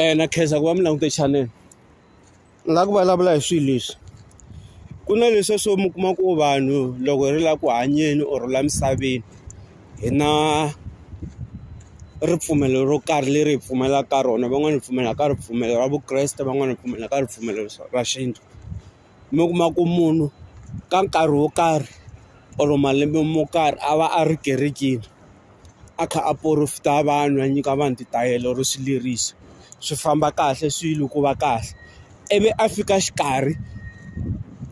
eh na khensa ku va mi langute channel ni la ku vulavula hi swilo leswi ku na leswi swo mi kuma ku vanhu loko ri la ku hanyeni or la misaveni hi na ripfumelo ro karhi leri hi pfumelaka ka rona van'wani hi pfumela ka ripfumelo ra vukreste van'wani hi pfumela ka ripfumelo ra xintu. mi kuma ku munhu ka nkarhi wo karhi or malembe mo karhi a va a ri kerekeni a kha a porofeta vanhu a nyika vanhu titayele or swileriso swi famba kahle swilo ku va kahle ivi a fika xikarhi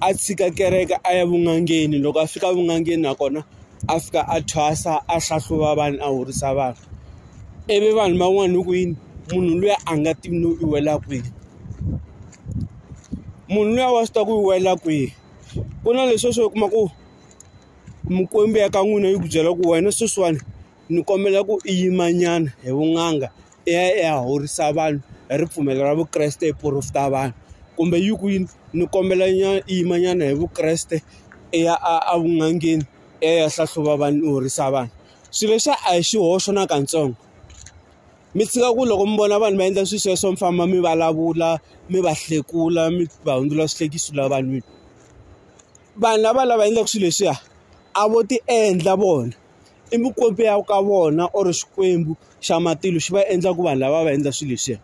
a tshika kereke a ya vun'angeni loko a fika vun'angeni nakona a fika a thwasa a hlahluva vanhu a horisa vanhu ivi vanhu van'wana hi ku yini munhu luya a nga tivi no i wela kwini. munhu luya wa swi ta ku yi wela kwihi ku na leswi swo kuma ku mukwembu ya ka n'wina yi ku byela ku wena sweswiwani ni kombela ku i yimanyana hi vun'anga i ya i ya horisa vanhu hi ripfumelo ra vukreste i porofeta vanhu kumbe yi ku yini ni kombela nyana i yimanyana hi vukreste i ya a a vun'angeni i ya i ya hlahluva vanhu i horisa vanhu swilo leswiya a hi xihoxo na katsongo. mi tshika ku loko mi vona vanhu va endla swilo sweswo mi famba mi vulavula mi va hlekula mi va hundzula swihlekiso la vanhwini vanhu lava lava endlaka swilo leswiya a vo ti endla vona i mikwembu ya ka vona or xikwembu xa matilo xi va endla ku vanhu lava va endla swilo leswiya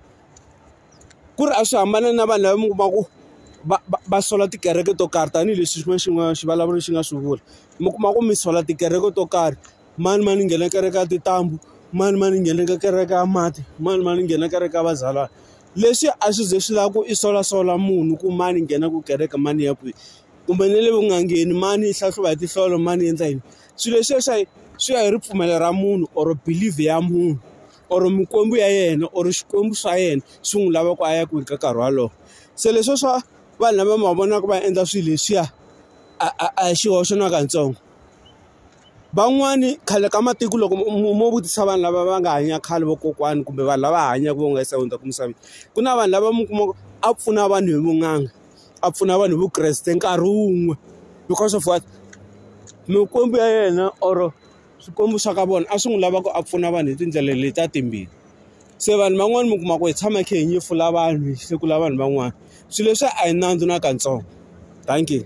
ku ri a swi hambana na vanhu lava mi kuma ku va va va sola tikereke to karhi tanihileswi xin'wana xin'wana xivulavuri xi nga swi vula mi kuma ku mi sola tikereke to karhi mani mani nghena kereke ya tintambu mani mani nghena ka kereke ya mati mani mani nghena kereke ya vazalwana leswi a swi ze swi lava ku i solasola munhu ku mani nghena ku kereke mani ya kwihi kumbe na le vun'angeni mani hlahluva hi tinhlolo mani endla yini swilo leswiya swa swi ya hi ripfumelo ra munhu or believe ya munhu or mikwembu ya yena or xikwembu swa yena swi n'wi lava ku a ya kwihi ka nkarhi wolowo se leswo swa vanhu lava ma vonaka va endla swilo leswiya a a a hi xihoxo na katsongo. van'wani khale ka matiko loko mo vutisa vanhu lava va nga hanya khale vakokwani kumbe vanhu lava hanyaka va nga se hundza emisaveni ku na vanhu lava mi kuma ku a pfuna vanhu hi vun'anga a pfuna vanhu hi vukreste nkarhi wun'we because of what mikwembu ya yena or swikwembu swa ka vona a swi n'wi lava ku a pfuna vanhu hi tindlela leti a timbirhi se vanhu van'wani mi kuma ku hi tshama hi kha hi nyefula vanhu hi hlekula vanhu van'wana swilo leswi a hi nandzu na katsongo dankie.